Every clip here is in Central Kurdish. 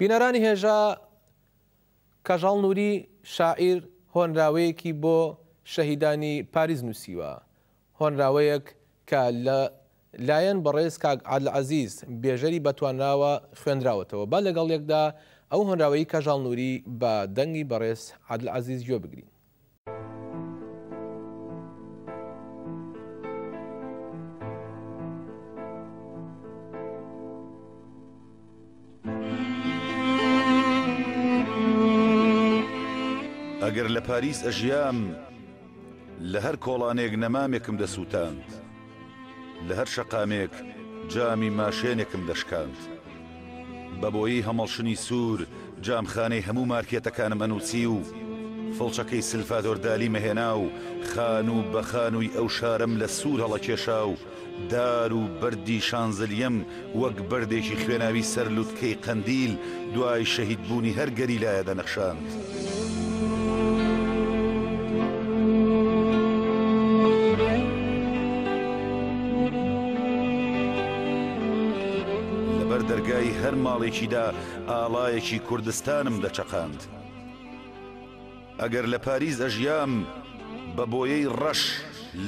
بینەرانی هێژا کەژاڵ نوری شاعیر هۆنراوەیەکی بۆ شەهیدانی پاریس نووسیوە، هۆنراوەیەک کە لە لایەن بەڕێز کاک عادل عەزیز بێژەری بەتوانراوە خوێندراوەتەوە، با لەگەڵ یەکدا ئەو هۆنراوەی کەژاڵ نوری بە دەنگی بەڕێز عادل عەزیز گوێ بگرین. ئەگەر لە پاریس ئەژیام لە هەر کۆڵانێک نەمامێکم دەسووتاند. لە هەر شەقامێک جامی ماشێنێکم دەشکاند. بە بۆیی هەمەڵشنی سوور جامخانەی هەموو مارکێتەکانم ئەنووسی و فڵچەکەی سلفادۆر دالی مەهێنا و خانوو بە خانووی ئەو شارەم لە سوور هەڵەکێشا و دار و بەردی شانزلیەم وەک بەردێکی خوێناوی سەر لوتکەی قەندیل دوای شەهید بوونی هەر گەریلایە دەنەخشاند. دەرگای هەر ماڵێکیدا ئاڵایەکی کوردستانم دەچەقاند ئەگەر لە پاریس ئەژیام بە بۆیەی ڕەش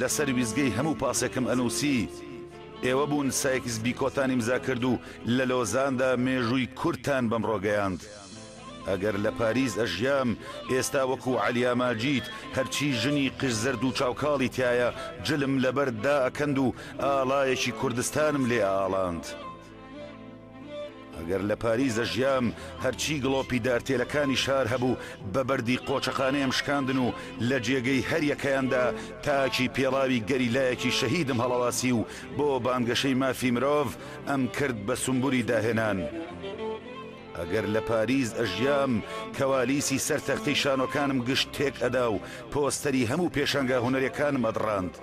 لەسەر ویزگەی هەموو پاسێکم ئەنووسی ئێوە بوون سایکس بیکۆتان ئیمزا کرد و لە لۆزاندا مێژووی کوردتان بەمڕۆ گەیاند. ئەگەر لە پاریس ئەژیام ئێستا وەکو عەلیا ماجید هەرچی ژنی قژ زەرد و چاو کاڵی تیایە جلم لەبەرد دائەکەند و ئاڵایەکی کوردستانم لێ ئەئاڵاند. ئەگەر لە پاریس دەژیام هەرچی گڵۆپی دارتێلەکانی شار هەبوو بە بەردی قۆچەخانەیەم شکاندن و لە جێگەی هەریەکەیاندا تاکی پێڵاوی گەریلایەکی شەهیدم هەڵەواسی و بۆ بانگەشەی مافی مرۆڤ ئەم کرد بە سمبولی داهێنان. ئەگەر لە پاریس ئەژیام کەوالیسی سەر تەختی شانۆکانم گشت تێک ئەدا و پۆستەری هەموو پێشانگا هونەرەکانم ئەدڕاند.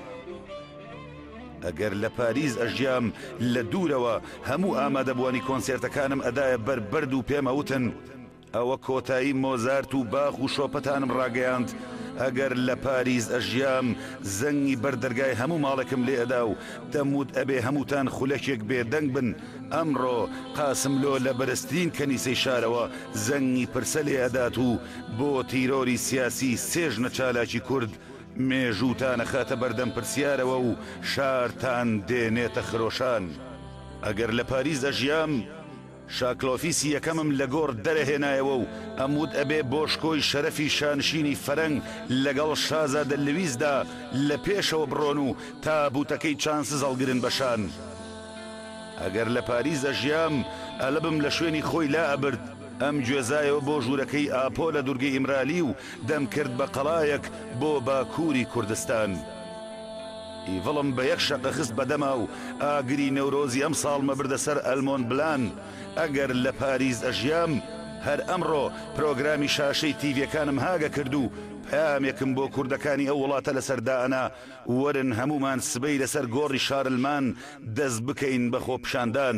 ئەگەر لە پاریس ئەژیام لە دوورەوە هەموو ئامادەبووانی کۆنسێرتەکانم ئەدایە بەر بەرد و پێم ئەوتن ئەوە کۆتایی مۆزارت و باخ و شۆپەتانم ڕاگەیاند ئەگەر لە پاریس ئەژیام زەنگی بەر دەرگای هەموو ماڵێکم لێ ئەدا و دەموت ئەبێ هەمووتان خولەکێک بێدەنگ بن ئەمڕۆ قاسملۆ لە بەرزترین کەنیسەی شارەوە زەنگی پرسە لێ ئەدات و بۆ تیرۆری سیاسی سێ ژنە چالاکی کورد مێژووتان ئەخاتە بەردەم پرسیارەوە و شارتان دێنێتە خرۆشان. ئەگەر لە پاریس دەژیام، شاکلۆفیسی یەکەمم لە گۆڕ دەرەهێنایەوە و ئەموت ئەبێ بۆ شکۆی شەرەفی شانشینی فەرەنگ لەگەڵ شازادە لویسدا لە پێشەوە بڕۆن و تابووتەکەی چانسز هەڵگرن بە شان. ئەگەر لە پاریس دەژیام، ئەلبم لە شوێنی خۆی لا ئەبرد. ئەم گوێزایەوە بۆ ژوورەکەی ئاپۆ لە دورگەی ئیمرالی و دەم کرد بە قەڵایەک بۆ باکووری کوردستان. ئیڤڵم بە یەک شەقە خست بە دەما و ئاگری نەورۆزی ئەمساڵ مە بردە سەر ئەلمۆن بلان. ئەگەر لە پاریس ئەژیام، هەر ئەمڕۆ پرۆگرامی شاشەی تیڤیەکانم هاگە کرد و پەیامێکم بۆ کوردەکانی ئەو وڵاتە لەسەر دائەنا، وەرن هەموومان سبەی لەسەر گۆڕی شارلمان دەست بکەین بە خۆپیشاندان.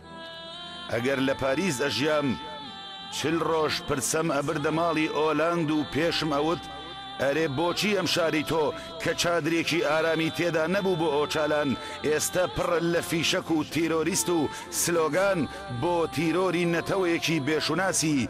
ئەگەر لە پاریس ئەژیام چل ڕۆژ پرسەم ئەبردە ماڵی ئۆلاند و پێشم ئەوت ئەرێ بۆچی ئەم شاری تۆ کە چادرێکی ئارامی تێدا نەبوو بۆ ئۆچالان ئێستە پڕە لە فیشەک و تیرۆریست و سلۆگان بۆ تیرۆری نەتەوەیەکی بێ شوناسی